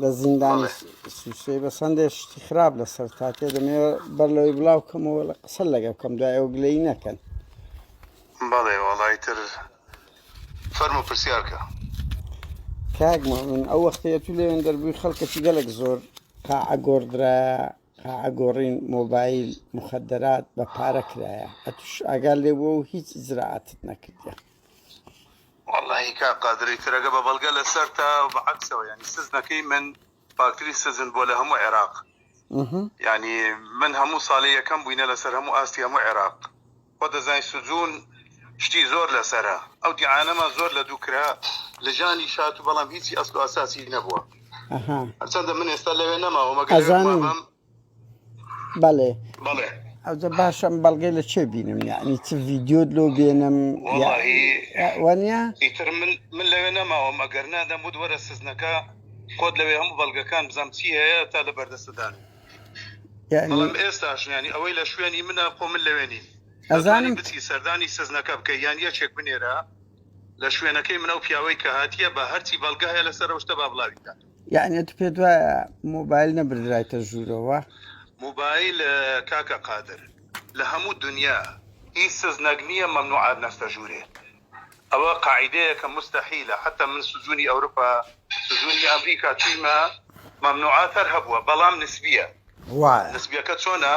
لە زیندانی سوچرەی بە سندێ شتی خراپ لەسەر تاکێ دەمێ بەر لەوەی بڵاو کەمەوە لە قسە لەگە بکەم دوای ئەو گلەی نەکەن بەڵێ وەڵی تر فەرم و پرسیارکە کاک من ئەو وەختەیە تو لێوێن دەربووی خەڵکەتی گەلک زۆر قاعە گۆڕدرا قاعە گۆڕین مۆبایل مخدرات بە پارە کرایە ئەتوش ئاگال لێ بۆ و هیچ زراعتت نەکردە وەڵاهی کاک قادری ترەگە بە بەڵگە لەسەرتە بە عەکسەوە یانی سجنەکەی من فاکتری سجن بوە لە هەموو عێراق یانی من هەموو ساڵی یەکەم بوینە لەسەر هەموو ئاستی هەموو عێراق خۆ دەزانی سجون شتی زۆر لەسەرە ئەو دیعانەمان زۆر لە دوو کرا لجانی شات بەڵام هیچی ئەسڵ و ئەساسی نەبوە هەرچەندە من ئێستا لەوێ نەماوە مەگەر ئەزانم بەڵێ بەڵێ ئەوجە باشم بەڵگەی لە چێ بینم یعنی چ ڤیددیۆت لۆ بێنم وەنیا ئیتر من من لەوێ نەماوە مەگەر نادەم بود وەرە سزنەکە خۆت لەوێ هەموو بەڵگەکان بزانام چی هەیە تا لە بەردەستدان ئێستاش ینی ئەوەی لە شوێنی منە خۆ من لەوێنی ئەزانم بچی سەردانی سزنەکە بکە یان یەکێک بنێرە لە شوێنەکەی منە و پیاوەی کە هاتیە بە هەرچی بەڵگە هەیە لەسەر شتە با بڵاویکات یعنی تو پێت وایە مۆبایل نەبردرایتە ژوورەوە موبایل کاکە قادر لە هەموو دنیا هیچ سزنەک نییە مەمنوعات نەستە ژوورێ ئەوە قاعدەیە کە مستحیلە حتى من سجونی ئەوروپا سجونی ئەمریکا چیمە مەمنوعات هەر هەبووە بەڵام نسبیە نسبیەکە چۆنە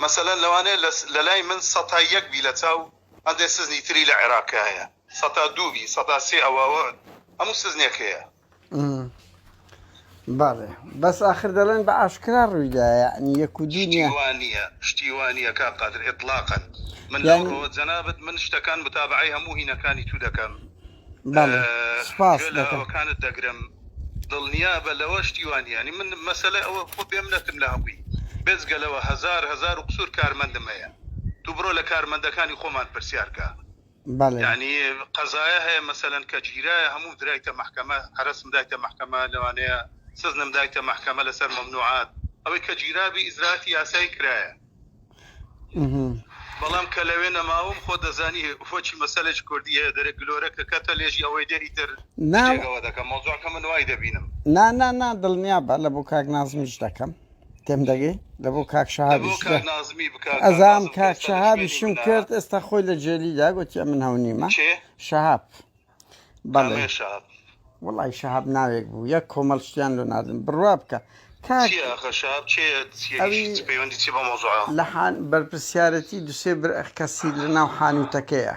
مەسەەن لەوانەیە لە لای من سەتا یەک بی لە چاو هەندێک سزنی تری لە عێراقایە سەتا دوو بی سەتا سێ ئەوە هەموو سزنێک هەیە بەڵێ بەس ئاخر دەڵێن بە ئاشکرا ڕوویدا یعنی یەک و دوو نیە شتی وا نییە شتی وا نییە کاک قادر اطلاقا من لەو یانی ڕووە جەنابت من شتەکان متابەعەی هەموو هینەکانی تو دەکەم بەڵێ سوپاس گوێ لە دەکەم ئەوەکانت دەگرم دڵنیابە لەوە شتی وا نییە یانی من مەسەلە ئەوە خۆ بێ منەتم لە هەمووی بێجگە لەوە هەزار هەزار و قسوور کارمەندم هەیە تو بڕۆ لە کارمەندەکانی خۆمان پرسیار کە. بەڵێ. یانی قەزایە هەیە مەسەلەن کە گیرایە هەموو درایتە مەحکەمە هەرەسم دایتە مەحکەمە لەوانەیە سجنم دایتە مەحکەمە لەسەر مەمنوعات ئەوەی کە گیرابی ئیجراتی یاسایی کرایە بەڵام کە لەوێ نەماوم خۆ دەزانی فۆچی مەسەلێک کوردی هەیە دەرە گلۆرە کە کەتە لێژی ئەوەی دێ ئیتر نا جێگەوە دەکەم مۆزوعەکە من وای دەبینم نا نا نا دڵنیا بە لە بۆ کاک نازمیش دەکەم تێم دەگەی لە بۆ کاک شەهابی ئەزام کاک شەهابی شم کرد ئێستا خۆی لە جێلیدا گوتیە من هەو نیمە شەهاب بەڵێ وڵی شەهاب ناوێک بوو یەک کۆمەڵ شتیان لۆ نادن بڕوا بکە لەحان بەرپسیارەتی دوسێ بر کەسی لە ناو حانوتەکەیە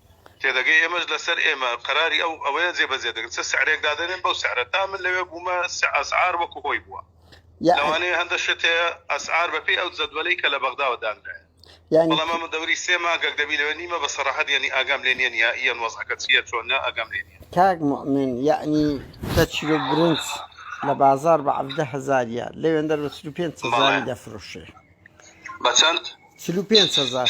تێدەگەی ئێمەش لەسەر ئێمە قەراری ئەو ئەوەیە جێبەجێ دەکرێت چ سعرێک دادەنێن بەو سعرە تا من لەوێ بوومە ئەسعار وەکو هۆی بووە لەوانەیە هەندە شت هەیە ئەسعار بەپێی ئەو جەدوەلەی کە لە بەغداوە دانرایە یعنی بەڵام ئەمە دەوری سێ مانگەک دەبی لەوێ نیمە بە سەراحەت یعنی ئاگام لێ نییە نیائیەن وەزعەکە چییە چۆنە ئاگام لێ نییە کاک موئمن یعنی دە چیلۆ برنج لە بازاڕ بە عەڤدە هەزاریە لەوێندەر بە چل و پێنج هەزاری بەڵێ دەفرۆشێ بە چەند؟ چل و پێنج هەزار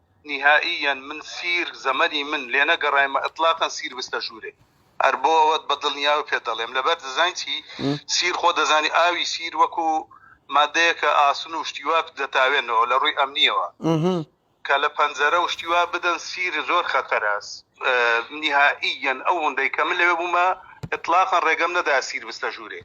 نیهائییەن من سیر زەمەنی من لێ نەگەڕایمە ئیتلاقەن سیر بستە ژوورێ هەر بۆ ئەوەت بە دڵنیاوە پێت دەڵێم لەبەر دزاین چی سیر خۆ دەزانی ئاوی سیر وەکو مادەیەکە ئاسن و شتی وا دەتاوێنەوە لە ڕووی ئەمنیەوە کە لە پەنجەرە و شتی وا بدەن سیر زۆر خەتەرە نیهائییەن ئەو هەندەی کە من لەوێ بوومە ئیتلاقەن ڕێگەم نەدا سیر بستە ژوورێ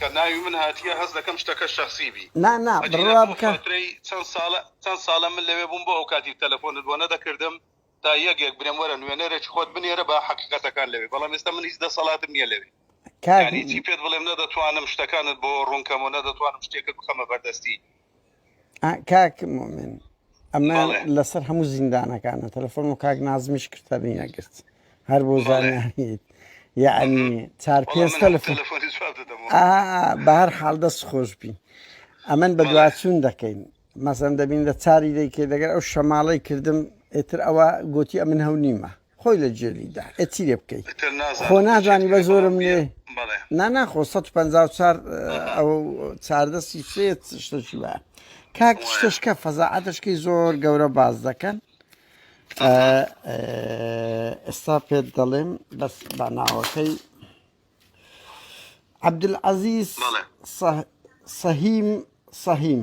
کە ناوی من هاتیە هەست دەکەم شتەکە شەخسی بی نا نا ئەگینا بڕوا بۆ بکە فاترەی چەن سالە چەن سالە من لەوێ بووم بۆ ئەوکاتی تەلەفۆنت بۆ نەدەکردم تا یەک یەک برێم وەرە نوێنەرێکی خۆت بنێرە با حەقیقەتەکان لەوێ بەڵام ئێستا من هیچ دەسەڵاتم نیە لەوێ کاک یانی چی پێت بڵێم نەدەتوانم شتەکانت بۆ ڕوون کەم و نەدەتوانم شتێکت بخەمە بەردەستی کاک مۆمن ئەمە لەسەر هەموو زیندانەکانە تەلەفۆن و کاک نازمیش کرتەبی نەگرت هەر بۆ زانیت یعنی چار پێ تەلەفۆن بە هەر حال دەست خۆش بی ئەمن بە دواچوون دەکەین مەسەن دەبین لە چاری دەیکێ دەگەر ئەو شەماڵی کردم ئێتر ئەوە گوتی ئەمن هەو نیمە خۆی لە جێلی دا ئێ چی لێ بکەی ئیتر خۆ نازانم بۆ چێت نازانی بە کەی بەڵام زۆرم نوێ بیە بەڵێ نا ناخۆ 154 ئەها ئەوە چاردەستی سێت شتەکی وایە کاک وایە شتەشکە فەزاعەتەشکەی زۆر گەورە باس دەکەن ئە، ئەها ئە، ئێستا پێت دەڵێم بەس بە ناوەکەی عەبدولعەزیز بەڵێ سەه- سەهیم سەهیم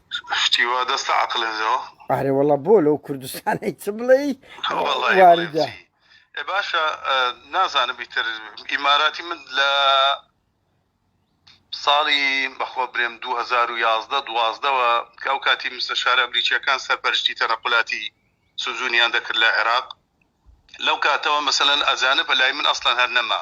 شتی وا دەست لە عەقلن زەوە. ئارێ وەڵا بۆ لەو کوردستانەی چ بڵێی واریدە. ئێ باشە نازانم ئیتر ئیماراتی من لە ساڵی بەخوا برێم دوو هەزار و یازدە دوازدەوە کە ئەو کاتی مستەشارە ئەمریکییەکان سەرپەرشتی تەنەقولاتی سجونیان دەکرد لە عێراق لەو کاتەوە مەسەلەن ئەجانب لای من ئەسڵەن هەر نەما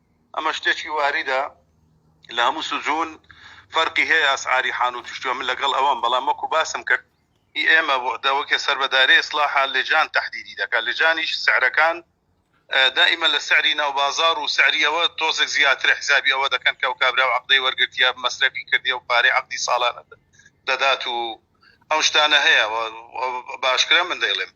ئەمە شتێکی واریدە لە هەموو سجون فەرقی هەیە ئەسعاری حانوت و شتوە من لەگەڵ ئەوەم بەڵام وەکو باسم کرد ئی ئێمە بۆ وەکێ سەر بە دایرەی ئیسلاحە لجان تەحدیدی دەکا لجانیش سعرەکان دائیمەن لە سعری ناو بازاڕ و سعری ئەوە تۆزێک زیاترە حیسابی ئەوە دەکەن کە ئەو کابراو عەقدەی وەرگرتیە مەسرەفی کردیە و پارەی عەقدی ساڵانە دەدات و ئەو شتانە هەیە و بە ئاشکرا من دەیڵێم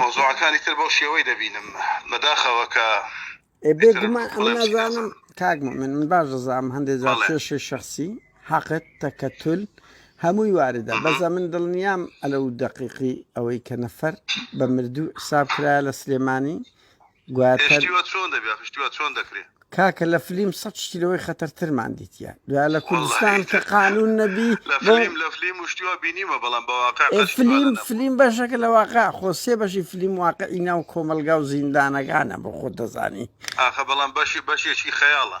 مەوزوعەکانی تر بەو شێوەی دەبینم بەداخەوە کە بێگومان ئەم نازانم کاک من من باش دەزانم هەندێک جار کێشی شخصی حەقت تەکەتول هەمووی واردە بەزە من دڵنیام ئەلە و دقیقی ئەوەی کە نەفەر بە مردوو حساب کرایە لە سلێمانی کاکە لە فلیم سەد شتی لەوەی خەتەرترمان دیتیە دوای لە کوردستان کە قانون نەبی فلیم فلیم بەشەکە لە واقع خۆ سێ بەشی فلیم واقعی ناو کۆمەلگا و زیندانەکانە بۆ خۆت دەزانی بەڵام بەشی بەشێکی خەیاڵە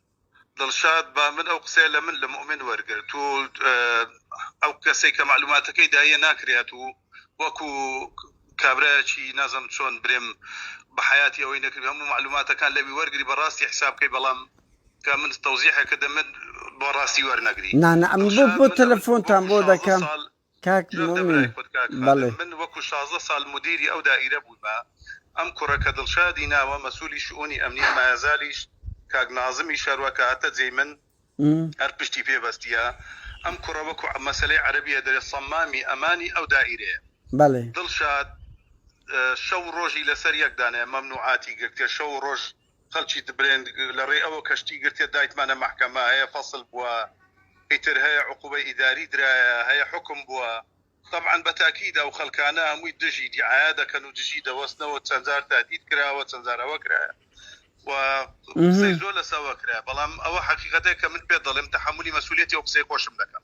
دڵشاد، با من ئەو قسەیە لە من لە موئمن وەرگرت. تۆ ئەو کەسەی کە مەعلوماتەکەی داییە ناکرێت و وەکو کابرایەکی نازم چۆن برێم بە حەیاتی ئەوەی نەکرد هەموو مەعلوماتەکان لەوی وەرگری بە ڕاستی حیساب کەی بەڵام کە من تەوزیحێ کردم من بۆ ڕاستی وەرنەگری. نانا من بۆ تەلەفۆنتان بۆ دەکەم. کاک مومین بەڵێ. جا برای خۆت کاک خالد من وەکو شازدە سال مدیری ئەو دائیرە بویمە ئەم کوڕە کە دڵشادی ناوە مەسولی شئونی ئەمنیە مایەزالیش کاک نازمی شەروە کە هاتە جێی من هەر پشتی پێ بەستیە ئەم کوڕە وەکو مەسەلەی عەرەبیە دەرێ سەمامی ئەمانی ئەو دائیرەیە بەڵێ. دڵشاد شەو ڕۆژی لەسەر یەک دانایە مەمنوعاتی گرتیە شەو ڕۆژ. خەلکی دبرێن لەڕێی ئەوە کە شتی گرتیە دایتمانە مەحکەمە هەیە فەسل بوە ئیتر هەیە عقوبەی ئیداری درایە هەیە حوکم بوە تەبعەن بە تاکید ئەو خەلکانە هەموی دژی دیعایە دەکەن و دژی دەوەستنەوە چەند جار تەهدید کراوە چەند جار ئەوە کرایە و قسەی زۆر لەسەوە کرایە بەڵام ئەوە حەقیقەتە کە من پێت دەڵێم تەحەمولی مەسولیەتی ئەو قسەی خۆشم دەکەم.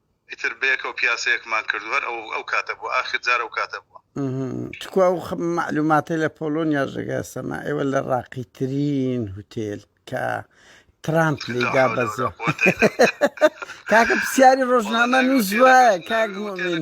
ئیتر بەیەکەوە پیاسەیەکمان کرد و هەر ئەو ئەو کاتە بوو ئاخر جار ئەو کاتە بووە. تکوا ئەو مەعلوماتەی لە پۆڵۆنیا ژەگەسەما ئێوە لە ڕاقی ترین هوتێل کە ترامپ لێدا بەزە کاکە پرسیاری ڕۆژنامە نووس وایە کاک مۆمین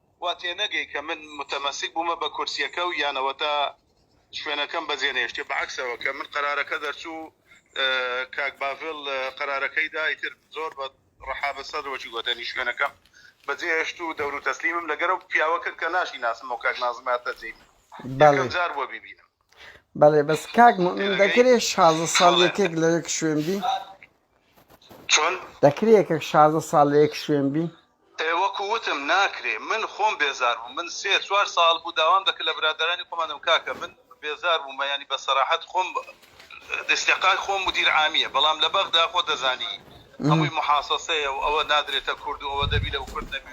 وا تێنەگەی کە من متەمەسک بوومە بە کورسیەکە و یان ئەوەتا شوێنەکەم بەجێ نەهێشت بە عەکسەوە کە من قەرارەکە دەرچوو کاک باڤڵ قەرارەکەی دا ئیتر زۆر بە رەحابە سەدر وەکی گۆتەنی شوێنەکەم بەجێ هێشت و دەورو تەسلیمم لەگەر ئەو پیاوە کرد کە ناشی ناسم و کاک نازم هاتە جێی من یەکەم جار بووە بیبینم. بەڵێ بەس کاک موئمین دەکرێ شازدە ساڵ یەکێک لەوێک شوێن بی؟ چۆن؟ دەکرێ یەکێک شازدە ساڵ لە یەک شوێن بین؟ ئێ وەکو وتم ناکرێ من خۆم بێزار بووم من سێ چوار ساڵ بوو داوام دەکرد لە برادەرانی خۆمان دەم کاکە من بێزار بووم یانی بە سەراحەت خۆم ئیستیقای خۆم مدیر عامیە بەڵام لە بەغدا خۆ دەزانی هەمووی محاسەسەیە و ئەوە نادرێتە کورد و ئەوە دەبی لەو کورد نەبی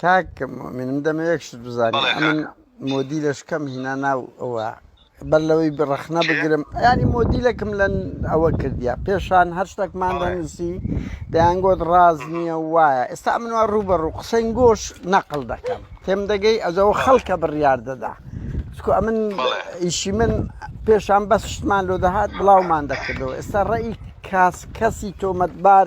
کاک مۆمین من دەمە یەک شت بزانم بەڵێ ئەمن کاکە مۆدیلەشکەم هینا ناو ئەوە بەر لەوەی بڕەخنە کێ بگرم ینی مۆدیلەکم لە ئەوە کردیا پێشان هەر شتێکمان بەڵێ دەنووسی دەیانگۆت ڕاز مم. نییە وایە ئێستا منوا ڕوبەڕوو قسەین گۆش نەقل دەکەم تێم دەگەی ئەجەوە بەڵێ خەڵکە بڕیار دەدا چکو ئەمن بەڵێ ئیشی من پێشان بەس شتمان لۆ دەهات بڵاومان دەکردەوە ئێستا ڕێی کاس کەسی تۆمەتبار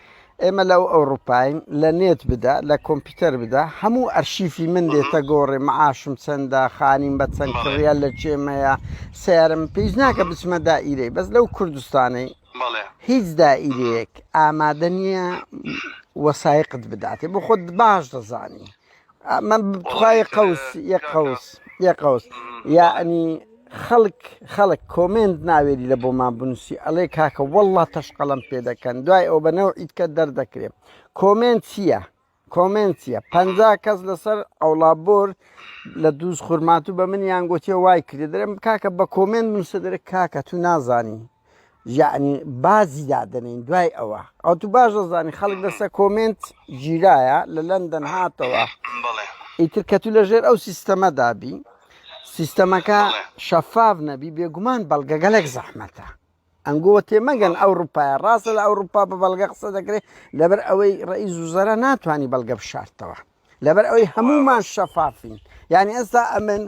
ئێمە لە ئەو ئەوروپاین لە نێت بدە لە کۆمپیوتەر بدە هەموو ئەرشیفی من دێتە گۆڕێ معاشم چەندە خانیم بە چەند کڕە لە کێمەیە سیارم پێیز ناکە بچمە دائیرەی بەس لەو کوردستانەی هیچ دائیرەیەک ئامادە نییە وەسایقت بداتێ بۆ خۆت باش دەزانی من توخوای قەوس یە قەوس یە قەوس یعنی خەڵک خەڵک کۆمنت ناوێری لە بۆمان بنووسی ئەڵێ کاکە والله تەشقەڵم پێ دەکەن دوای ئەو بەنەو ئیتکە دەردەکرێ کۆمنت چییە؟ کۆمنت چییە پ کەس لەسەر ئەوڵا بۆر لە دووز خورمات و بە منیان گوتیە وای کرێ دەرم کاکە بە کۆمنت نووسە دەرە کاکە تو نازانی یەعنی بازی دادەنین دوای ئەوە ئەو تو باش دەزانانی خەڵک لەسە کۆمنت گیرایە لە لەندەن هاتەوە ئیتر کە تو لەژێر ئەو سیستەمە دابی سیستەمەکە شەفاف نەبی بێگومان بەڵگەگەلێک زەحمەتە ئەنگۆوە تێمەگەن ئەو روپایە ڕاستە لە ئەو روپا بە بەڵگە قسە دەکرێت لەبەر ئەوەی ڕێی زوزەرە ناتوانانی بەڵگە بشارتەوە لەبەر ئەوەی هەمومان شەفافین یعنی ئێستا ئەمن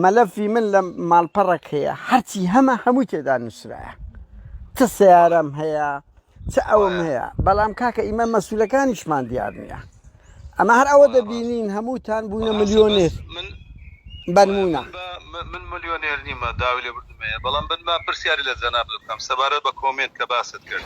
مەلەفی من لە ماڵپەڕک هەیە هەرچی هەمە هەمووی تێدا نووسراە چ سیارم هەیە چ ئەوم هەیە بەڵام کاکە ئیمە مەسوولەکانیشمان دیار نییە ئەمە هەر ئەوە دەبینین هەمووتان بوونە ملیۆنێر من بەرمونە من ملیۆنێر نیمە داوی لێ بردمەیە بەڵام بنما پرسیاری لە جەناب بکەم سەبارەت بە کۆمێنت کە باست کرد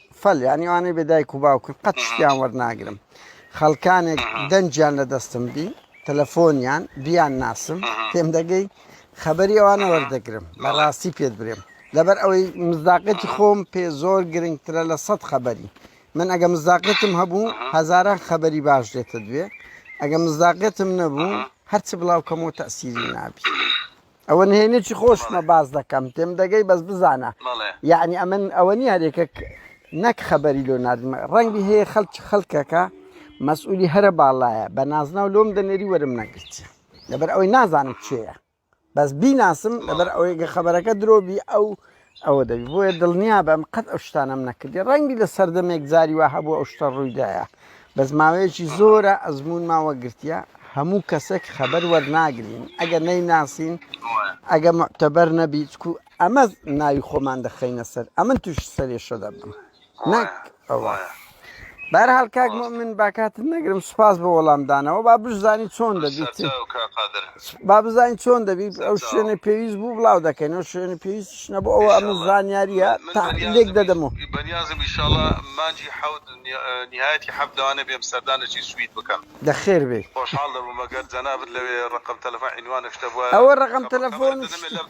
فل یانی ئەوانەی بێ دایک و باوکن قەت شتیان وەرناگرم خەڵکانێک دەنجیان لە دەستم بی تەلەفۆنیان بیان ناسم پێم دەگەی خەبەری ئەوانە وەردەگرم لە ڕاستی پێت برێم لەبەر ئەوەی مزداقەتی خۆم پێ زۆر گرنگترە لە سەد خەبەری من ئەگە مزداقەتم هەبوو هەزاران خەبەری باش دێتە دوێ ئەگە مزداقەتم نەبوو هەرچ بڵاوکەمەوە تەسیری نابی. ئەوە نهێنێکی خۆشمە باس دەکەم تێم دەگەی بەس بزانە یعنی ئەمن ئەوە نیە هەرێکە نەک خەبەری لۆ نادمە ڕەنگی هەیە خەلکی خەلکەکە مەسئولی هەرە باڵایە بە نازناو لۆم دەنێری وەرم نەگرت لەبەر ئەوەی نازانم چێە بەس بیناسم لەبەر ئەوەیگە خەبەرەکە درۆبی ئەو ئەوە دەبی بۆیە دڵنیابم قەت ئەو شتانەم نەکردی ڕەنگبی لە سەردەمێک زاری وا هەبوو ئەو شتە ڕوویدایە بەس ماوەیەکی زۆرە ئەزمون ماوە گرتیە هەموو کەسێک خەبەر وەرناگرین ئەگە نەی ناسین ئەگە معتەبەر نەبیچکو ئەمە ناوی خۆمان دەخەینە سەر ئەمن توش سەرێشە دەبم. نەک ئەوە بارحال کاک مؤمن باکاتت نەگرم سوپاس بۆ وەڵامدانەوە با بشزانانی چۆن دەبیت با بزانین چۆن دەبیت ئەو شوێنە پێویست بوو بڵاو دەکەین ئەو شوێنە پێویست شنە بۆ ئەوە ئەمە زانیاریە تا لێک دەدەمەوە بەنیازم ئیشاڵە مانجی حوت نهایەتی حەب لەوانە بێم سەردانەی سوید بکەم دەخێر بێ خۆشحاڵ دەبوومەگەر جەنابت لەوێ ڕقم تەلەفۆن عینوانە شتە بووە ئەوە ڕقم تەلەفۆن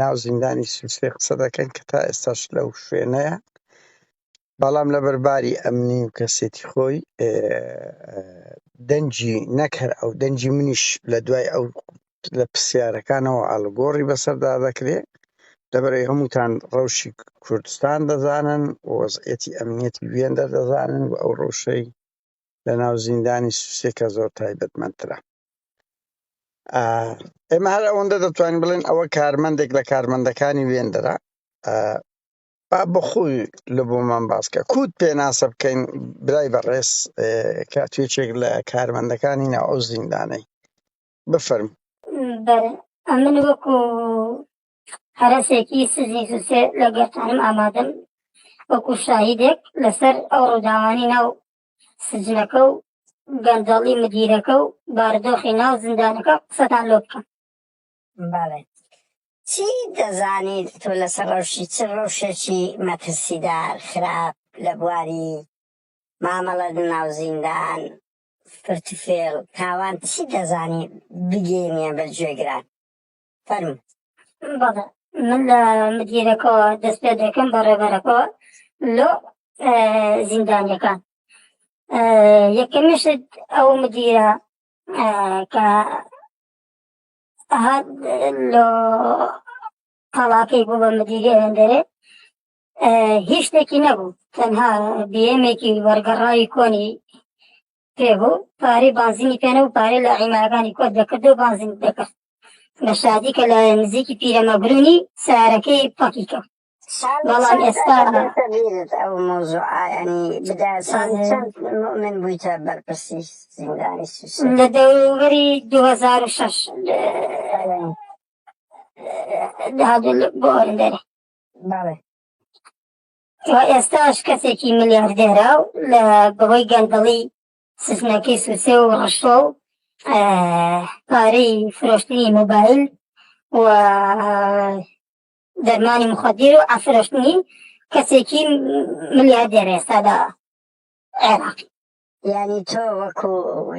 ناو زیندانی سوسێ قسە دەکەن کە تا ئێستاش لەو شوێنەیە بەڵام لەبەر باری ئەمنی و کەسێتی خۆی دەنجی نەکەر ئەو دەنجی منیش لە دوای ئەو لە پرسیارەکانەوە ئاڵگۆڕی بەسەردا دەکرێت لەبەرەی هەمووتان ڕەوشی کوردستان دەزانن وەزعەتی ئەمنیەتی وێندەر دەزانن و ئەو ڕەوشەی لە ناو زیندانی سوسێ کە زۆر تایبەت مەندترە ئا ئێمە هەر ئەوەندە دەتوانین بڵێن ئەوە کارمەندێک لە کارمەندەکانی وێندەرە ئا با بخوی لە بۆ من باسکە کووت پێناسە بکەین برای بەڕێز کە توێچێک لە کارمەندەکانی ناو ئەو زیندانەی بفەرم بەر ئەمن وەکو هەرەسێکی سزی زوسێ لە گەرتانم ئامادەم وەکو شاهیدێک لەسەر ئەو ڕووداوانی ناو سجنەکە و گەندەڵی مدیرەکە و باردۆخی ناو زیندانەکە قسەتان لۆ بکەم بەڵێ چی دەزانیت تۆ لەسەر ڕەوشی چ ڕەوشێکی مەترسیدار خراپ لە بواری مامەڵە ناو زیندان فرتفێڵ تاوان چی دەزانیت بگەینە بە گوێگران فەرموون. بەڵێ من لە مدیرەکەوە دەست پێ دەکەم بە ڕێبەرەکەوە لۆ زیندانیەکان یەکەمیشت ئەو مدیرە کە هات لۆ قەڵاکەی بوو بە مدیری ئەندەرێ هیچ شتێکی نەبوو تەنها بێمێکی وەرگەڕاوی کۆنی پێ بوو پارەی بانزینی پێنە و پارەی لە عیماگانی کۆت دەکرد و بانزین دەکرد لە شادی کە لە نزیکی پیرەمەگرونی سارەکەی پەکی کرد بەڵام ئێستا ئەو مۆزوع ئاینی بدا چەند مؤمن بوویتە بەرپرسی زیندانی لە دەوری 2006 دادل بۆ ئەرندەرێ بەڵێ تا ئێستاش کەسێکی ملیاردێرە و لە بەهۆی گەندەڵی سفنەکەی سوسێ و ڕشتۆ و پارەی فرۆشتنی مۆبایل و دەرمانی مخدیر و ئەفرۆشتنی کەسێکی ملیاردێر ئێستادا عێراقی یعنی تۆ وەکو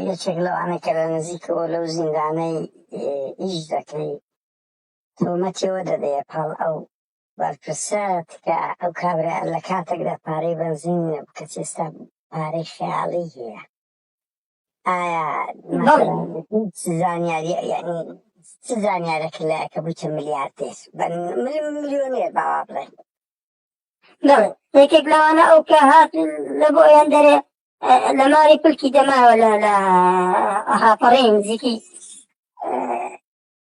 یەکێک لەوانە کە لە نزیکەوە لەو زیندانەی ئیش دەکەی تۆمەتیەوە دەدەیە پاڵ ئەو بەرپرسە تکا ئەو کابرا لە کاتێکدا پارەی بەنزین نیە بکەچی ئێستا پارەی خەیاڵی هەیە ئایا زانیاری یعنی چ زانیارێکی لایەکە بوویتە ملیاردێر ملیۆنێر باوا بڵێ نەڵێ یەکێک لەوانە ئەو کە هات لە بۆ ئەیان دەرێ لە ماری پلکی دەماوە لە لە ئەهاپەڕی نزیکی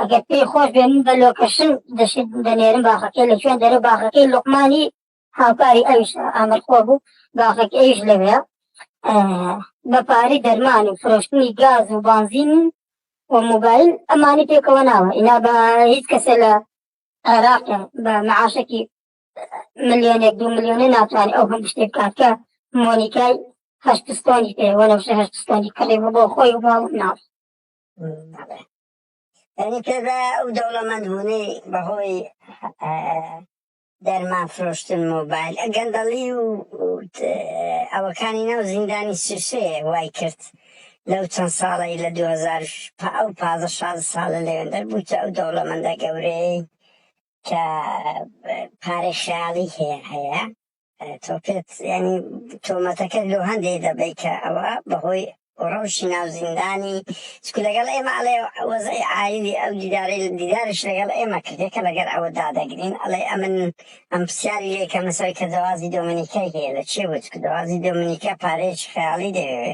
ئەگەر پێی خۆش بێ من بە لۆکەشن دەشت دەنێرم باخەکەی لە کوێن دەرە باخەکەی لقمانی هاوکاری ئەوش ئامرخۆ بوو باخەکە ئەوش لەوێ بە پارەی دەرمان و فرۆشتنی گاز و بانزین و موبایل ئەمانی پێکەوە ناوە ئینا بە هیچ کەسێ لە عێراق بە معاشەکی ملیۆنێک دو ملیۆنە ناتوانانی ئەو هەم شتێک بکات کە مۆنیکای هەشتستۆنی پێ وەنەوشە هەشتستۆنی کڕی بۆ خۆی و باڵ ناوی یعنی تێدا ئەو دەوڵەمەند بوونەی بەهۆی دەرمان فرۆشتن مۆبایل گەندەڵی و ئەوەکانی ناو زیندانی سوسەیە وای کرد لەو چەند ساڵی لە 2000 ئەو پازە شاز ساڵە لەوێندەر بووتە ئەو دەوڵەمەندە گەورەی کە پارەی خیاڵی هەیە هەیە تۆ پێت یانی تۆمەتەکەت لۆ هەندەی دەبەی کە ئەوە بەهۆی ڕەوشی ناو زیندانی چکو لەگەڵ ئێمە ئەڵێ وەزعی عایلی ئەو دیداری دیدارش لەگەڵ ئێمە کردێ کە لەگەر ئەوە دادەگرین ئەڵێ ئەمن ئەم پرسیاری لێ کە مسەوەی کە دەوازی دۆمنیکای هەیە لە چێ بوو چکو دەوازی دۆمنیکا پارەیەکی خەیاڵی دەوێ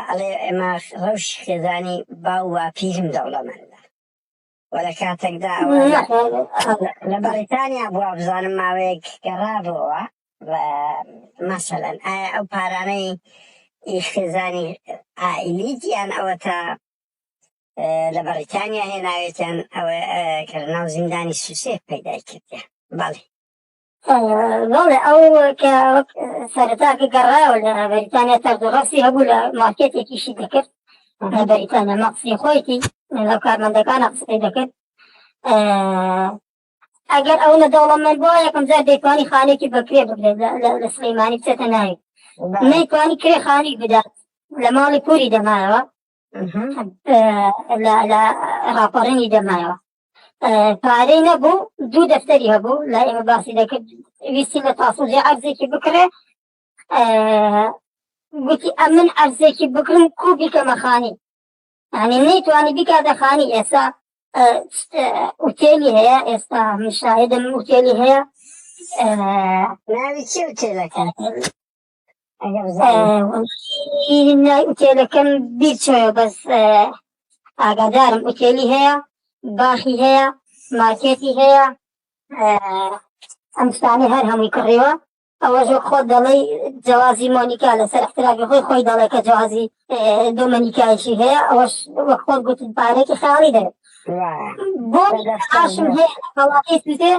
ئەڵێ ئێمە ڕەوشی خێزانی باو واپیرم دەوڵەمەندە و لە کاتێکدا ئەوە لە بەڕیتانیا بووە بزانم ماوەیەک گەڕابووەوە و مەسەلەن ئایا ئەو پارانەی ئیش خێزانی ئائیلی گیان ئەوە تا لە بەڕیتانیا هێناوێتیان ئەوە کە لە ناو زیندانی سوسێ پەیدای کردیان بەڵێ بەڵێ ئەو کە وەک سەرەتا کە گەڕایەوە لە بەریتانیا تەرزوغەسی هەبوو لە مارکێتێکیشی دەکرد لە بەریتانیا مەقسی خۆیتی لەو کارمەندەکانە قسەی دەکرد ئەگەر ئەو لە دەوڵەمەند بووە یەکەم جار دەیتوانی خانێکی بەکرێ بگرێت لە سلەیمانی بچێتە ناوی نەیتوانی کرێ خانی بدات لە ماڵی پوری دەمایەوە لە راپەڕێنی دەمایەوە پارەی نەبوو دوو دەفتەری هەبوو لای ئێمە باسی دەکرد ویستی لە تاسنجی عەرزێکی بکرێ گوتی ئەمن عەرزێکی بکرم کو بیکەمە خانی ئەنی نەیتوانی بیکاتە خانی ئێسا ئوتێلی هەیە ئێستا مشاهدم ئوتێلی هەیە ناوی چی ئوتێلەکە نای ئوتێلەکەم بیرچۆە بەس ئاگادارم ئوتێلی هەیە باخی هەیە ماکێتی هەیە ئەم شتانی هەر هەمووی کڕیوە ئەوەش خۆ دەڵی جیازی مۆنیکا لەسەر احتراکی خۆی خۆی دەڵێ کە جیازی دۆمەنیکایشی هەیە ئەوەش وەک خۆ گوتن پارێکی خاڵی دەێت بۆ ئاشم هەیە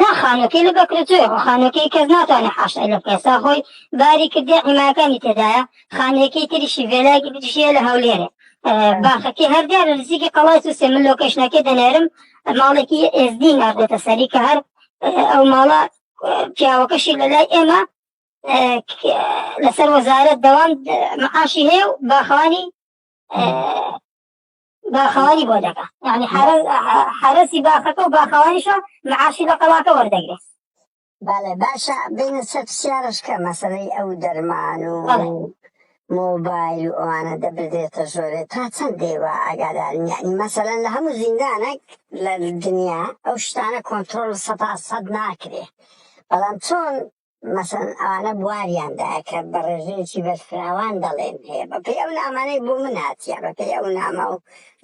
نا خانوەکەی لە بەکرەجۆی خۆ خانوەکەی کەس ناتوانێت حاشای لێ بکە سا خۆی باری کردی حیمایەکانی تێدایە خانەکەی تریشی ڤێلایەکی بریشیە لە هەولێرێ باخەکەی هەر دیارە نزیکی قەڵای سوسێ من لۆکەشنەکەی دەنێرم ماڵێکی ئێزدی ناردێتە سەری کە هەر ئەو ماڵە پیاوەکەشی لە لای ئێمە لەسەر وەزارەت دەوام معاشی هەیە و باخەوانی باخەوانی بۆ دەکا یعنی حرەسی باخەکە و باخەوانیشە معاشی لە قەڵاکە وەردەگرێت بەڵێ باشە بینە سەر پرسیارشکە مەسەرەی ئەو دەرمان و مۆبایل و ئەوانە دەبدرێتە ژۆرێ تا چەند دێوە ئاگادارین یعنی مەسەلەن لە هەموو زیندانێک لە دنیا ئەو شتانە کۆنتترۆل سە سەد ناکرێ بەڵام چۆن مەسەڵەن ئەوانە بواریان دایە کە بە ڕێژەیەکی بەرفراوان دەڵێن هەیە بەپێی ئەو نامانەی بۆ من هاتیە بەپێی ئەو نامە و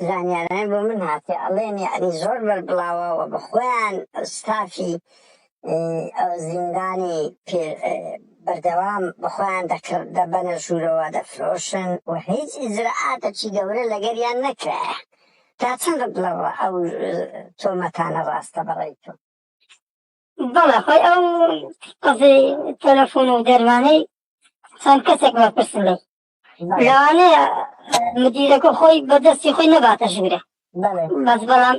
زانیارانەی بۆ من هاتێ ئەڵێن یعنی زۆر بەربڵاوە و بە خۆیان ستافی ئەو زیندانی پێ بەردەوام بە خۆیان دەکڕ دەبەنە ژوورەوە دەفرۆشن و هیچ ئیجرئاتەکی گەورە لەگەریان نەکرایە تا چەند بڵەوە ئەو تۆمەتانە ڕاستە بەڕێی تۆ بەڵێ خۆی ئەو قەزی تەلەفۆن و دەروانەی چەند کەسێک وەرپرسن لێ لەوانەیە مدیرەکە خۆی بەدەستی خۆی نەباتە ژوورێ بەس بەڵام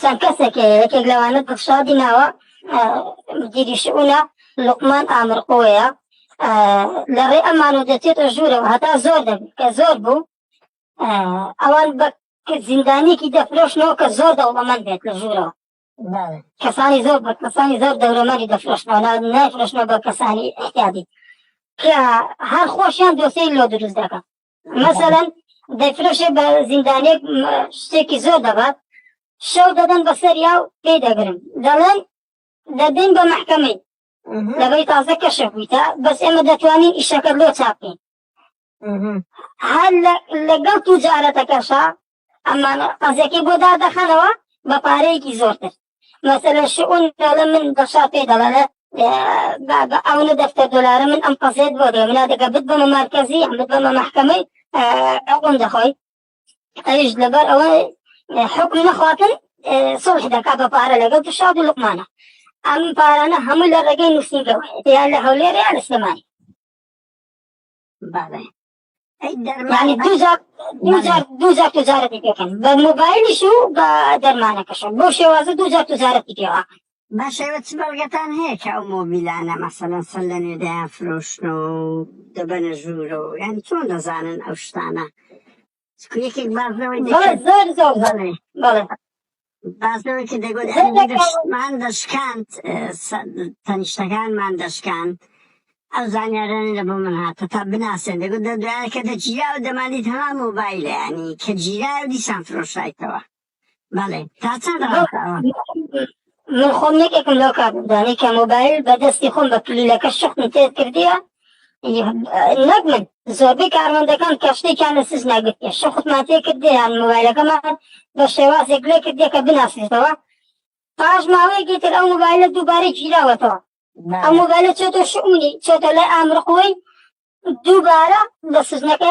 چەند کەسێک یەکێک لەوانە دڵشادی ناوە مدیری شعونە لقمان ئامرقۆیە لە ڕێ ئەمانۆ دەچێتە ژوورەوە هەتا زۆر دەبی کە زۆر بوو ئەوان بە کە زیندانیەکی دە فرۆشنەوە کە زۆر دەوڵەمەند بێت لە ژوورەوە کەسانی زۆر بە کەسانی زۆر دەورەمەری دەفرۆشنەوە نایفرۆشنەوە بە کەسانی احتیادی کە هەر خۆشیان دۆسەی لۆ دروست دەکە مەسەەن دەفرۆشێ بە زیندانێک شتێکی زۆر دەبات شەو دەدەن بە سەریا و پێی دەگرن دەڵێن دەدەین بە محکەمەی لەبەی تازە کەشە بوویتە بەس ئێمە دەتوانین ئیشەکە لۆ چاپین هەر لەگەڵ توجارەتەکەشە ئەمان قەزیەکەی بۆ دادەخەنەوە بە پارەیەکی زۆرتر مەسەلە شعون دەڵێ من بەشار پێ دەڵێ بە ئەو نە دەفتەر دلارە من ئەم قەزێت بۆ دێ منا دەگە بت بەمە مارکەزی ئەمت بەمە محکەمەی ئەقۆم دەخۆی ئەویش لەبەر ئەوە حکم نەخواتن سڵح دەکا بە پارە لەگەڵ تشاد و لقمانە ئەم پارانە هەموو لە ڕێگەی نووسینگەوە یان لە هەولێر یان لە سلێمانی بەڵێ ئەی دەرمان یعنی دوو جار دوو بەڵێ. جار دوو جار تجارەتی پێکەن بە موبایلیش و بە دەرمانەکەشە بۆ شێوازە دوو جار تجارەتی پێوە باشە ئێوە چ بەڵگەتان هەیە کە ئەو مۆبیلانە مەسەلەن سەر لە نوێ دەیان فرۆشنەوە و دەبەنە ژوورەوە یان چۆن دەزانن ئەو شتانە سکرێکێک بازنەوەی بەڵێ دەکرد زۆر زۆر زۆر بەڵێ بەڵێ بازنەوەی کە دەگوت زۆر ئەمیر دەکەم شتمان دەشکاند اه، سە- تەنیشتەکانمان دەشکاند ئەو زانیارانە لە بۆ من هاتە تا بناسێن دەگوت دە دوایە کە دەگیرا و دەماندیت هەمان مۆبایلە ینی کە گیرا و دیسان فرۆشایتەوە بەڵێ تا چەند من خۆم یەکێکم لەو کابدانەی کە مۆبایل بە دەستی خۆم بە کلیلەکە شخم تێ کردیە نەک من زۆربەی کارمەندەکان کە شتێکیان لە سز ناگرتێ شخمان تێ کردیان مۆبایلەکەمان بە شێوازێک لێ کردیە کە بناسێتەوە پاش ماوەیەکی تر ئەو مۆبایلە دووبارەی گیراوەتەوە ئەم مۆبایلە چێتە شعونی چێتە لای ئامرخۆی دووبارە لە سزنەکە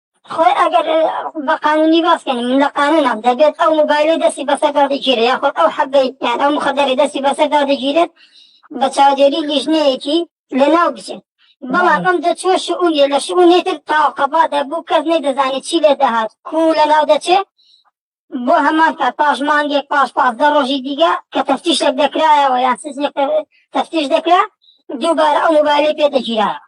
خۆی ئەگەر بە قانونی باسکەین من لە قانونم دەبێت ئەو موبایلی دەستی بەسەردا دەگیرێت یاخود ئەو حەبەی یان ئەو مخدەری دەستی بەسەردا دەگیرێت بە چاودێری لیژنەیەکی لەناو بچێت بەڵام ئەم دەچوە شعونیە لە شعونی تر تاوقەبا دەبوو کەس نەی دەزانێت چی لێ دەهات کو لەناو دەچێت بۆ هەمان کات پاش مانگێک پاش پازدە ڕۆژی دیگە کە تەفتیشێک دەکرایەوە یان سزنێک تەفتیش دەکرا دووبارە ئەو موبایلی پێ دەگیرایەوە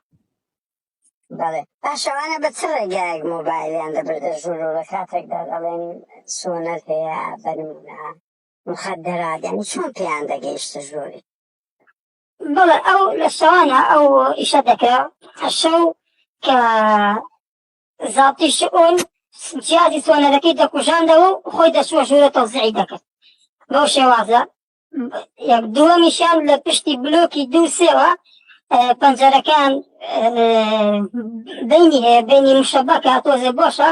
بەڵێ باش ئەوانە بە چ ڕێگایەک مۆبایلیان دەبردە ژوور و لە کاتێکدا دەڵێن سۆنەر هەیە بە نمونە مخدرات یعنی چۆن پێیان دەگەیشتە ژووری بەڵێ ئەو لە شەوانە ئەو ئیشە دەکرا شەو کە زاڵتی شئون جیازی سۆنەرەکەی دەکوژاندەوە و خۆی دەچووە ژوورە تەوزیعی دەکرد بەو شێوازە یەک دووەمیشیان لە پشتی بلۆکی دوو سێوە پەنجەرەکان بینی هەیە بینی مشەبەکە تۆزێ بۆشە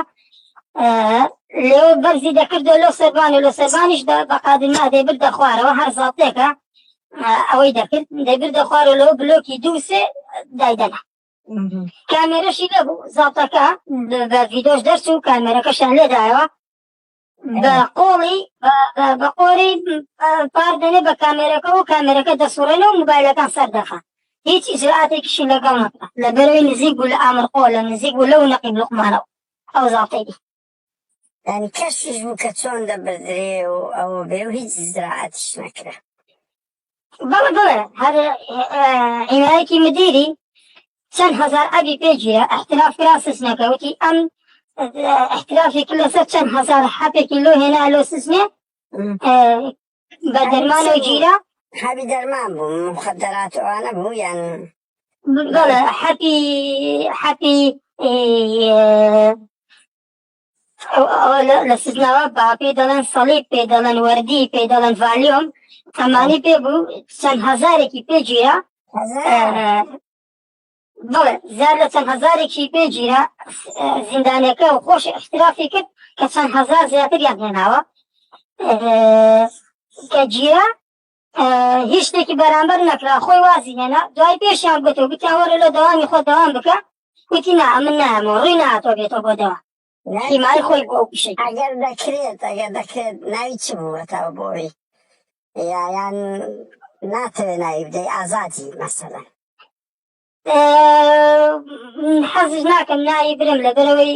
لێ بەرزی دەکردە لۆ سەربان و لە سەربانیش بەقادی نادەی بردە خوارەوە هەر زاتێکە ئەوەی دەکرد دەبردە خوارە لەو بلۆکی دوو سێ دایدەنا کامێرەشی لەبوو زاتەکە بە ڤیدۆش دەرچوو کامێرەکەشیان لێدایەوە بە قۆڵی بە قۆری پار دەنێ بە کامێرەکە و کامێرەکە دەسوڕێنە و موبایلەکان سەر دەخە هیچ ئیجراتێکیشی لەگەڵ نەکە لە بەرەوەی نزیک بوو لە ئامرقۆ لە نزیک بوو لەو نەقیب لوقمانەوە ئەو زاڵتەی دی ینی کەشیش بوو کە چۆن دەبردرێ و ئەوە بێ و هیچ زراعەتیش نەکرا بەڵێ بەڵێ هەر ئیمایەکی مدیری چەند هەزار ئەبی پێگیرە ئەحتراف کرا سزنەکە وتی ئەم ئەحترافێکی لەسەر چەند هەزار حەپێکی لۆ هێنا لۆ سزنێ بە دەرمانە گیرە حەبی دەرمان بوو مخدرات ئەوانە بوو یان بەڵێ حەپی حەپی ئەو ئەوە لە سزناوە با پێی دەڵێن سەڵیب پێی دەڵێن وەردی پێی دەڵێن ڤالیۆم ئەمانی پێ بوو چەند هەزارێکی پێگیرە بڵێ زیاد لە چەند هەزارێکی پێگیرە زیندانەکە و خۆش احترافی کرد کە چەند هەزار زیاتریان هێناوە کە گیرە هیچ شتێکی بەرامبەر نەکرا خۆی وازی هێنا دوای پێشیان گوتو گوتیان وەرە لە داوامی خۆ داوام بکە وتی نا ئەمن نایەمەوە ڕووی ناتۆ بێتۆ بۆ دەوا هیمای خۆی بۆ پیشێک ئەگەر دەکرێت ئەگەر دەکرێت ناوی چ بووەتەوە بۆی یایان ناتەوێت ناوی بدەی ئازادی مەسەلە حەزیش ناکەم ناوی برم لەبەرەوەی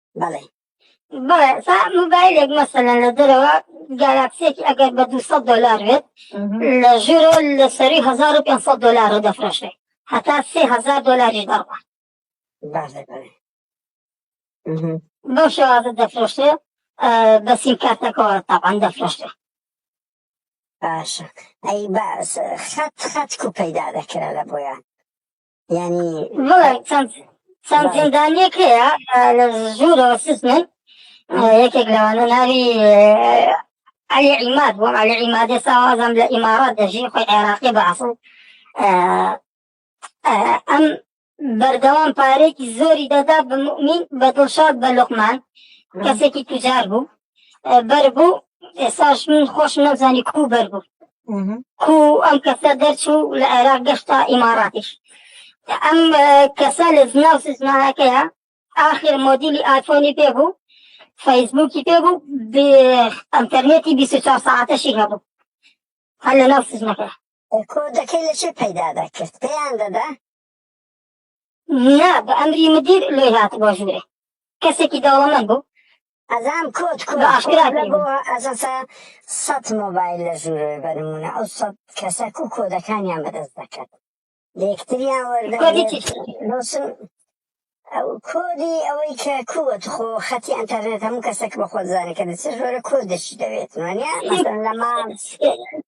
بەڵێ بەڵێ سا موبایلێک مەسەلەن لە دەرەوە گالاکسێکی ئەگەر بە 200 دلار بێت لە ژورۆ لە سەری 1500 دلار دەفرۆشێ هەتا 3000 دلاریش دەڕوە باش دەکەێت بەو شێوازە دەفرۆشێ بە سیم کارتەکەەوە تاوان دەفرۆشێ باشە ئەی باس خەت خەت کو پەیدا دەکرا لە بۆیان یانی بەڵێ چەند چەند زیندانیەک هەیە لە ژوورەوە سزمن یەکێک لەوانە ناوی علی عیماد بووم علی عیمادی ساوازم لە ئیمارات دەژی خۆی عێراقی بە ئەسڵ ئەم بەردەوام پارێکی زۆری دەدا بە مؤمین بە دڵشاد بە لوقمان کەسێکی تجار بوو بەر بوو ئێساش من خۆش نەزانی کو بەر بوو کو ئەم کەسە دەرچوو لە عێراق گەشتا ئیماراتیش ئەم کەسە لە زناو سزناەکەیە آخر مۆدیلی ئایفۆنی پێ بوو فەیسبووکی پێ بوو ئەتەرنێتی 24 ساعتەشی هەبوو هەر لە ناو سزنەکە کۆدەکەی لە چێ پەیدا دەکرد پێیان دەدا نا بە ئەمری مدیر لۆی هاتبوە ژورێ کەسێکی دەوڵەمەند بوو ئەزان کۆت کۆت بە ئاشکرا کۆت لەگۆ کردبوو ئەزەسە سەت مۆبایل لە ژورۆێ بە نمونە ئەو سەت کەسە کو کۆدەکانیان بەدەست دەکەت لەیەکتریان کۆدی چی وەردەگرێت لۆسن ئەو کۆدی ئەوەی کە کووە تخۆ خەتی ئەنتەرنێت هەموو کەسەک بەخۆت زانێت کە دە چ ژۆرە کۆدەشی دەوێت وانە مەسەن لە ماڵ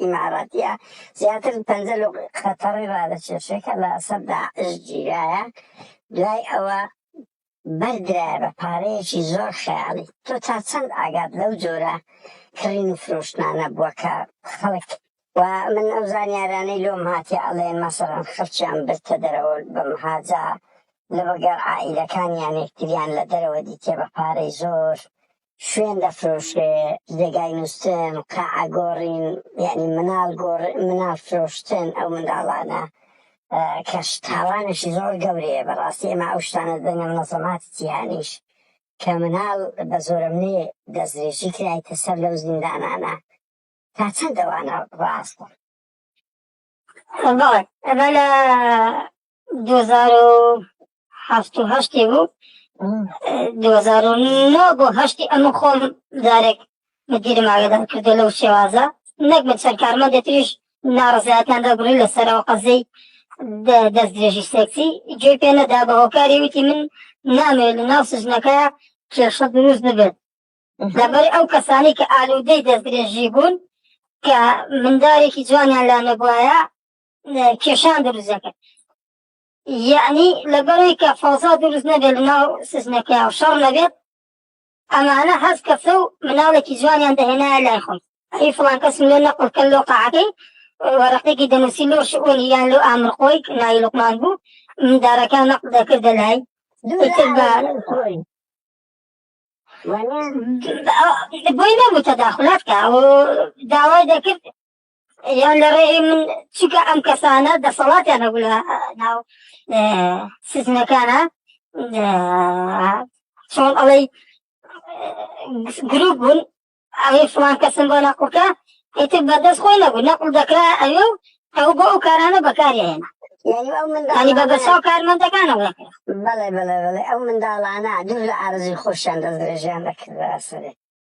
ئیماراتیە زیاتر پەنجە لۆ قەتەڕی ڕادەکێشێ کە لە سەر داعش گیرایە دوای ئەوە بەردرایە بە پارەیەکی زۆر خەیاڵی تۆ تا چەند ئاگات لەو جۆرە کڕین و فرۆشتنانە بووە کە خەڵک و من ئەو زانیارانەی لۆم هاتیە ئەڵێن مەسەڵەن خەڵکیان برتە دەرەوە بە مهاجە لەوەگەڕ عائیلەکانیان یەکتریان لە دەرەوە دیتیە بە پارەی زۆر شوێن دەفرۆشرێ جێگای نوستن قاعە گۆڕین یعنی مناڵ گۆڕ مناڵ فرۆشتن ئەو منداڵانە کەش تاوانشی زۆر گەورەیە بەڕاستی ئێمە ئەو شتانە دەنگە منەزەماتی جیهانیش کە مناڵ بە زۆرەمنێ دەستدرێژی کرایتە سەر لەو زیندانانە تا چەند دەوانە ڕاستە بەڵێ ئەمە لە 2007 و هەشتی بوو 2009 بۆ هەشتی ئەمە خۆم جارێک مدیرم ئاگدان کردو لەو شێوازە نەک من چەند کارمەندێ تریش ناڕزیاتیان دەگوڕی لەسەرەوە قەزەی دەست درێژی سێکسی گوێ پێ نەدا بە هۆکاری وتی من نامێ لە ناو سژنەکە کێشە دروست ببێت لەبەر ئەو کەسانی کە ئالودەی دەست درێژی بوون کە مندارێکی جوانیان لا نەبواە کێشان دروست دەکرد یعنی لەبەرەوەی کە فەوزا دروست نەبێت لەناو سزنەکە و شەڕ نەبێت ئەمانە هەز کەسە و مناڵێکی جوانیان دەهێنایە لای خۆم ئەی فڵان کەس لێ نەقڵکە لۆ قاعەکەی وەرەقێکی دەنووسی لۆ شعۆنی یان لۆ ئامرقۆی ناوی لوقمان بوو مندارەکان نەق دەکردە لای بۆی نەبوو تەداخلات کە داوای دەکرد یان لە ڕێی من چکە ئەم کەسانە دەسەڵاتیان هەبوو لە ناو سزنەکانە چۆن ئەڵەی گروپ بوون ئەوەی فڵان کەسم بۆ نەقڵکە ئیتر بەدەست خۆی نەبوو نەقل دەکرا ئەوێ و ئەو بۆ ئەو کارانە بەکارێنە ینی بە بەساو کارمەندەکانەوە دەکرا بەڵێ بەڵێ بەڵێ ئەو منداڵانە دوور لە ئارزوی خۆشیان دەستێژیان دەکرد بەسەرێت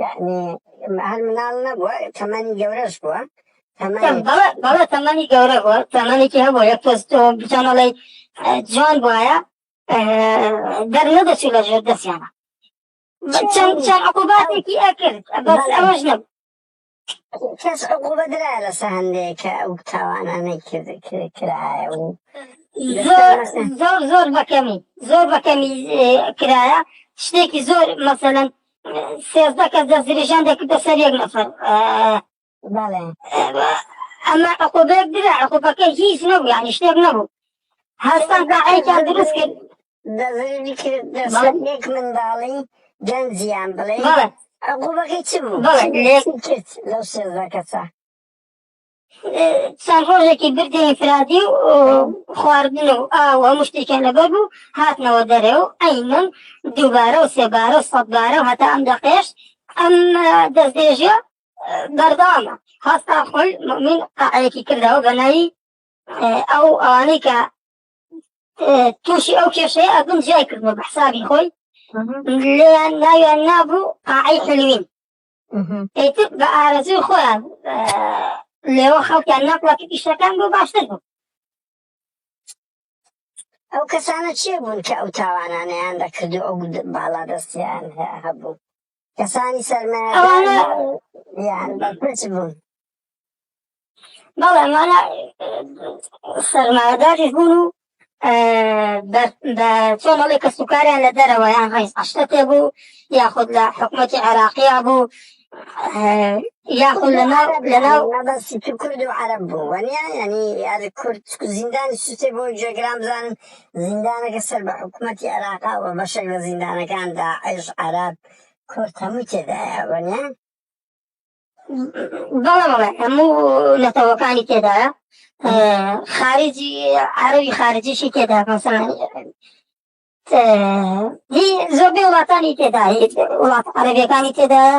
یانی هەر مناڵ نەبووە تەمەنی گەورەش بووە بەڵێ تەمەنی گەورە بووە تەمەنێکی هەبوو یە پێست بچانەڵی جوان بواە دەرنەدەچی لە ژێر دەستیانە چەند چەند عقوباتێکی ئەکرد بەس ئەوەش نەبوو کەس عقوبە درایە لەسە هەندێک کە ئەو تاوانانەی کرد کرد- کرایە و زۆر زۆر زۆر بەکەمی زۆر بەکەمی اه، کرایە شتێکی زۆر مەسەلەن سێزدە کەس دەستریژان دەکردە سەر یەک نەفەر اه، بەڵێ اه، ئەمە عقوبەیەک درا عقوبەکە هیچ نەبوو یعنی شتێک نەبوو هەستان داعیتان دروست کرد دەزووی کرد دەسەر یەک منداڵی گەنجیان بڵێ بەڵێ عقوبەکەی چ بوو بەڵێ لێ کرد لەو سێزدە کەسە چەند ڕۆژێکی بردی ئینفرادی و خواردن و ئاو هەموو شتێکیان لەبەر بوو هاتنەوە دەرێ و ئەی من دووبارە و سێبارە و سەدبارە و هەتا ئەم دەقێش ئەم دەستێژە بەردامە هەستا خۆی من قاعەیەکی کردەوە بە ناوی ئەو ئەوانەی کە تووشی ئەو کێشەیە ئەبوون جیای کردووە بە حسابی خۆی لێیان ناویان نابوو قاعی حلوین ئیتر بە ئارەزوی خۆیان لێوە خەڵکیان ناپڵات پیشەکان بۆ باشتر بوو ئەو کەسانە چێ بوون کە ئەو تاوانانیان دەکرد و ئەو باڵا دەستیان هەبوو کەسانی سەرمایەدار یان بەرپرس بوون بەڵێ مانە سەرمایەداریش بوون و بە چۆن ئەڵێ کەس و کاریان لە دەرەوە یان ڕیز ئەشتە تێ بوو یاخود لە حکوومەتی عێراقییا بوو یاخود لەناو لەناو مەبەستی تو کورد و عەرب بوو وەنیا ینی یار کورد زیندانی سوچێ بۆ جێگران بزانن زیندانەکە سەر بە حکومەتی عێراقە و بەشێک لە زیندانەکان داعش، عەرەب، کورد هەمووی تێدایە وەنیە؟ بەڵێ بەڵێ هەموو نەتەوەکانی تێدایە خارجی عەرەوی خارجیشی تێدا مەسەلەن هی زۆربەی وڵاتانی تێدا وڵات عەرەبیەکانی تێدایە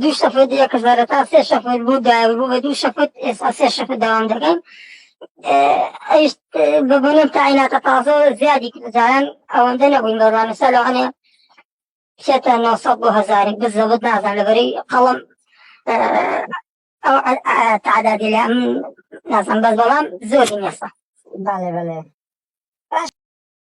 دوو شەفت یەک هەزار تا سێ شەفت بوو دابوو بە دوو شەفت ئێستا سێ شەفت داوام دەکەین ئەیش بە بۆنم تایناتە تازە زیادی جاران ئەوەندە نەبووین بەڕوانە سا لەوانێ بچێتە 900 بۆ هزاری بزەوت نازان لەبەری قەڵم ئەو تعدادی لە نازان بەس بەڵام زۆری نێسە بەڵێ بەڵێ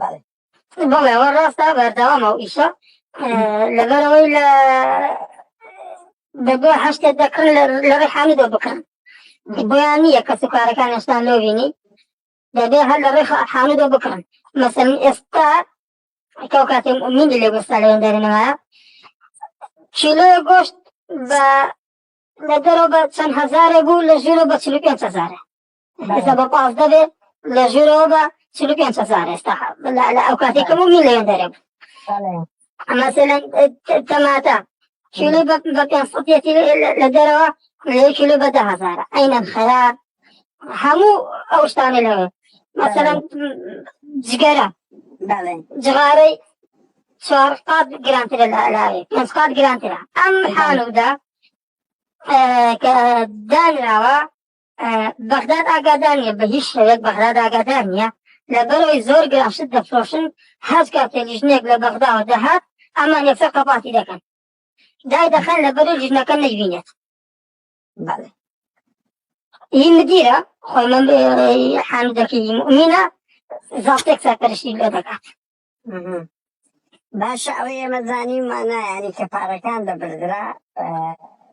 بەڵێ بەڵێ ئەوە ڕاستە بەردەوام ئەو ئیشە لەبەرەوەی لە بەگۆ هەشتێک دەکڕن لە ڕێ حامیدۆ بکڕن بۆیان نییە کەس و کارەکان هێشتا لۆبینی دەبێ هەر لە ڕێ حامیدۆ بکڕن مەسەن ئێستا ئەو کاتێ منی لێ گوستا لەوێن دەرنەوە کیلۆ گۆشت بە لە دەرەوە بە چەند هەزارێ بوو لە ژێرە بە چل پێ هزارە ئێستا بە پازدە بێ لە ژێرەوە بە چل و پێنج هەزار ئێستا لە ئەو کاتی کەم و میلیۆن دەرێ بوو مثلا تەماتە کیلو بە پێنج سەدیەتی لە دەرەوە لە کیلو بە ده هەزارە ئەینەن خەیار هەموو ئەو شتانە لەوێ مثلا جگەرە جغارەی چوار قات گرانترە لە ئەلاوی پێنج قات گرانترە ئەم حالودا کە دانراوە بەغداد ئاگادار نیە بە هیچ شێوەیەک بەغداد ئاگادار نیە لەبەرەوەی زۆر گران شت دەفرۆشن هەز کاتێ لیژنێک لە بەغداوە دەهات ئەمە نێفە قەپاتی دەکەن دای دەخەن لەبەرەوەی لیژنەکە نەیبینێت بەڵێ ئی مدیرە خۆی من حامدەکەی مؤمنە زافتێک سەرپەرشتی لێ دەکات مهم. باشە ئەوەی ئێمە زانیمانە یعنی کە پارەکان دەبردرا ئە،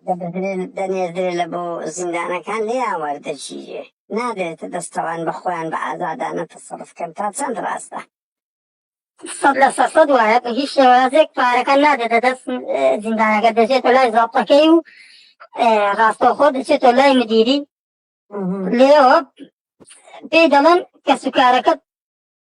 دەبردرێ دەنێردرێ لە بۆ زیندانەکان لێیان وەردەگیرێ نادرێتە دەستەوان بە خۆیان بە ئازادانە تەسەڕف کەن تا چەند ڕاستە؟ سەد لە سەد سەد وایە بە هیچ شێوازێک پارەکە نادێتە دەست اه، زیندانەکە دەچێتە لای زابطەکەی و اه، ڕاستەوخۆ دەچێتە لای مدیری مهم. لێەوە پێی دەڵێن کەسوکارەکە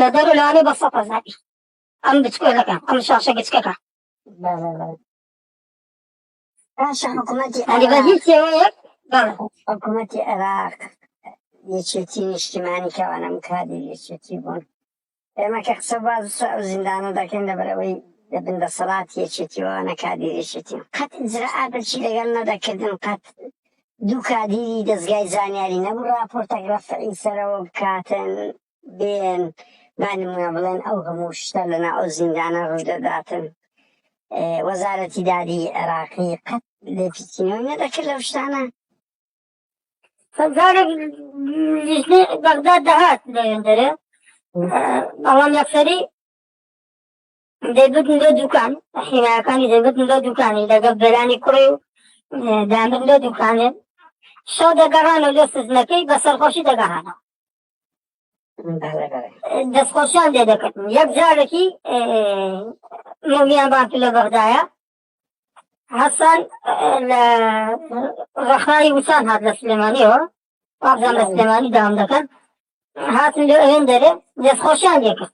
لە دەر و لانێ بە سەد هەزاری. ئەم بچکۆلەکە، ئەم شاشە گچکەکە. باشە حکومەتی ئەنی بە هیچ شێوەیەک بەڵێ حکومەتی عێراق یەکێتی نیشتیمانی کەوانە مکادی یەکێتی بوون ئێمە کە قسە باز ئەو زیندانە دەکەین لەبەرەوەی دەبن دەسەڵات یەکێتیەوە نەکادی یەکێتی قەت ئجرعاتەکی لەگەڵ نەدەکردن قەت دوو کادیری دەستگای زانیاری نەبوو راپۆرتەک رەفعی سەرەوە بکاتن دێن با نموونە بڵێن ئەو هەموو شتە لەنا ئەو زیندانە ڕوودەداتن وەزارەتی دادی عێراقی قەت لێپیچینەوەی نەدەکرد لەو شتانە سەزارێک لیژنەی بەغدا دەهات لەوێندەرێ بەڵام یەکسەری دەیبتن بۆ دوکان حیناکانی دەیبتن بۆ دوکانی لەگەڵ بەرانی کوڕی و دامن لۆ دوکانێ شەو دەگەڕانە لۆ سزنەکەی بە سەرخۆشی دەگەڕانەوە دەستخۆشیان لێ دەکردن یەک جارێکی مۆمیان بانکی لە بەغدایە حەسەن لە ڕەخناوی وچان هات لە سلێمانیەوە وابزان لە سلێمانی دام دەکەن هاتن لێ ئەوێن دەرێ دەستخۆشیان لێکرد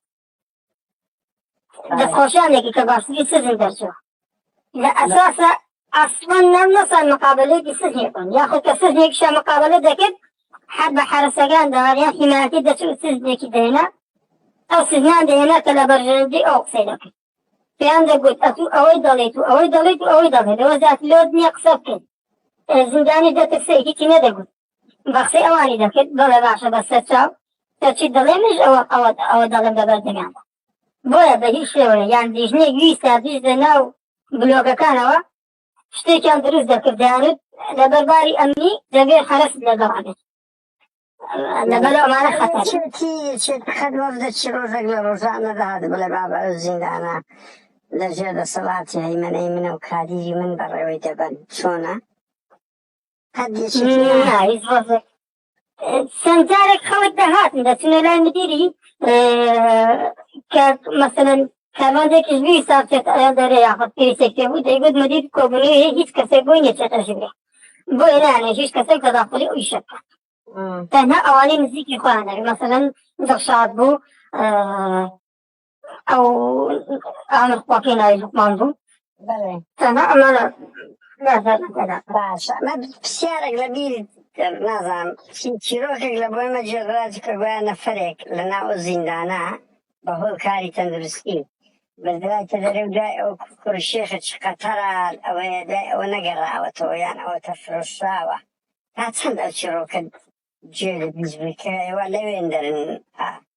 دەستخۆشیانێکی کە باسیی سزی دەرچوو لە ئەساسە ئەسڵەن نەم نەسان مقابلەیەکی سزیێ کن یاخود کە سزیێکشە مقابلە دەکرد حد بە حرەسەکان دەواریا حیمایەتی دەچوو سزیێکی دێنە ئەو سزیان دێنە کە لە بەرژەندی ئەو قسەی دەکرد پێیان دەگوت ئەتو ئەوەی دەڵێت و ئەوەی دەڵێت و ئەوەی دەڵێت لەوە زیات لۆت نییە قسە بکەیت زیندانی دەترسێکی نەدەگوت بە قسەی ئەوانی دەکرد بەڵێ باشە بە سەر چاو تۆ چیت دەڵێ منیش ئەوە ئەوە ئەوە دەڵێم بە بەردەمیاندا بۆیە بە هیچ شێوەیە یان دیژنێک ویستە بیژدە ناو بلۆگەکانەوە شتێکیان دروست دەکرد دەیانوت لە بەرباری ئەمنی دەبێ حەرەست لەگەڵانێت لەبەر ئەمانە خەتەر چێتی چێت خەت وەفدە چی ڕۆژێک لە ڕۆژانەدا هات بڵێ بابە ئەو زیندانە لە ژێر دەسەڵاتی هەیمەنەی منە و کادیری من بەڕێوەی دەبەن چۆنە چەند جارێک خەڵک دەهاتن دەچنە لای مدیری کە مەسەن کارمانجێکیش بوی ساچێت ئەیان دەرێ یاخود پێویستێک پێ بوو دەیگوت مدیر کۆبنی هیچ کەسێک بۆی نێچێتە ژبێ بۆ ئێرانە هیچ کەسێک تەداخلی ئەوی شەکە تەنها ئەوانەی نزیکی خۆیان دەبێت مەسەن دڵشاد بوو ئەو ئەمە خۆکەی ناوی لوقمان بوو بەڵێ تەنها ئەمانە نازانم تێدا باشە ئەمە پرسیارێک لە بیر نازانم چی- چیرۆکێک لە بۆی مەجێڕاج کە گویا نەفرێک لە ناو زیندانە بە هۆی کاری تەندروستی بردرایتە دەرێ و دوای ئەو کوڕشێخە چ قەتەران ئەوەیە دوای ئەوە نەگەڕاوەتەوە یان ئەوە تەفرۆشراوە تا چەند ئەو چیرۆکە جێ لە بیست بووی کە ئێوە لەوێن دەرن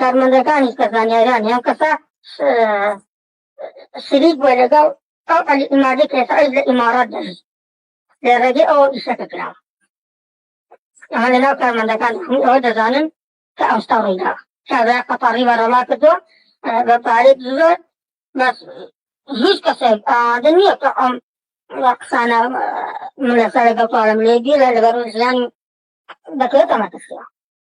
کارمەندەکانیش کە زانیاریان هەم کەسە شریک بووە لەگەڵ ئەو علی ئیمادی کێسەش لە ئیمارات دەژی لە ڕێگەی ئەوە ئیشەکە کراوە ئەمە لە ناو کارمەندەکان هەموو ئەوە دەزانن کە ئەوستا ڕوویدا کابرا قەتاڕی بەڕەڵا کردووە بە پارێک زۆر بەس هیچ کەسێک ئاوادە نییە کە ئەم قسانە من لەسەر لەگەڵ پارەم لێ بیرە لەبەر ژیانی دەکرێتەمە کەسیە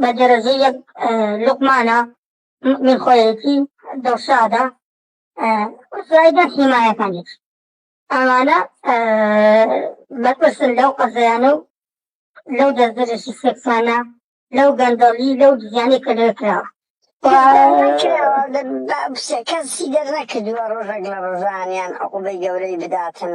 بە دەرەجە یەک لوقمانە من خۆیەتی دڵشادە زایدە حیمایەکانیش ئەمانە بەپرسن لەو قەزیانە و لەو دەستدرێژی سێکسانە لەو گەندەڵی لەو دیزیانەی کە لێ کراوە کەسی دەرنەکردووە ڕۆژێک لە ڕۆژانیان عقوبەی گەورەی بداتن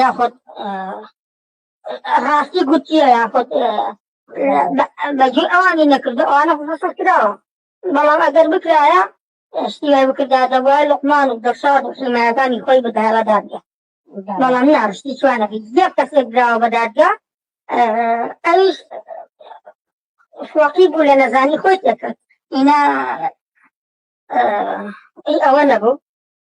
یاخود ڕاستی گوتیە یاخود بەجێ ئەوانی نەکردو ئەوانە خۆسە کراوە بەڵام ئەگەر بکرایە شتیای بکردا دەبواە لقمان و دەشار و حمایەکانی خۆی بدایە دادگە بەڵام ناشتی چوانەکە زیێ کەسێک دراوە بە دادگە ئەویش فۆقی بوو لە نەزانی خۆی تێکرد ئینا ئەوە نەبوو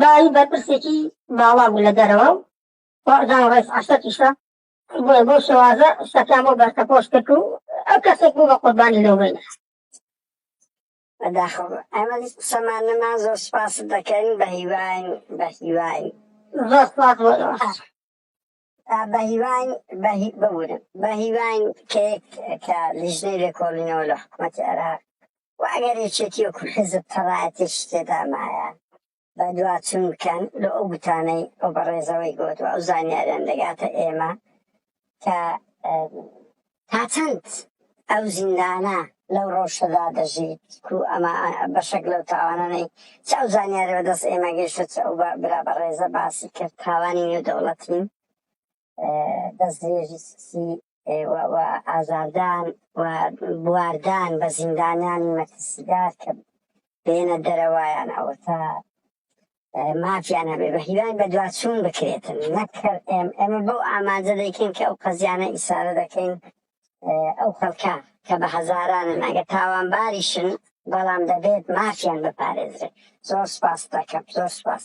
باوی بەرپرسێکی باڵا بوو لە دەرەوە و وەڕدان ڕێز عەشەتیشە بۆیە بۆ شێوازە شتەکان بۆ بەرتەپۆش کرد و ئەو کەسێک بوو بە قوربانی لەو بینە بەداخەوە ئەمە قسەمان نەما زۆر سپاست دەکەین بە هیواین بە هیواین زۆر سپاس بۆ بەهیواین ببورن بەهیواین کەیەک کە لیژنەی لێکۆڵینەوە لە حکوومەتی عێراق و ئەگەر یەکێتی وەکو حزب تەڕایەتێک تێدامایە بە دوواچون بکەن لە ئەو گوتانەی ئەو بەڕێزەوەی گوت و ئەو زانیاریان دەگاتە ئێمە کە تا چەند ئەو زیندانە لەو ڕەوشەدا دەژیت کو ئەمە بەشێک لەو تاوانانەی چ ئەو زانیارە بەدەست ئێمە گەیشتە چ ئەو برا بە ڕێزە باسی کرد تاوانی نێو دەوڵەتی دەستێژی سیسی ئازاردان و بواردان بە زیندانیانی مەترسیدار کە بێنە دەرەوەیان ئەوە تا مافیان هەبێت و هیوای بەدواچوون بکرێتن نەک هەر ئێم، ئێمە بەو ئامانجە دەیکەین کە ئەو قەزیانە ئیسارە دەکەین ئەو خەڵکە کە بە هەزارانن ئەگەر تاوانباریشن بەڵام دەبێت مافیان بپارێزرێت زۆر سپاستەکەم زۆر سپاس.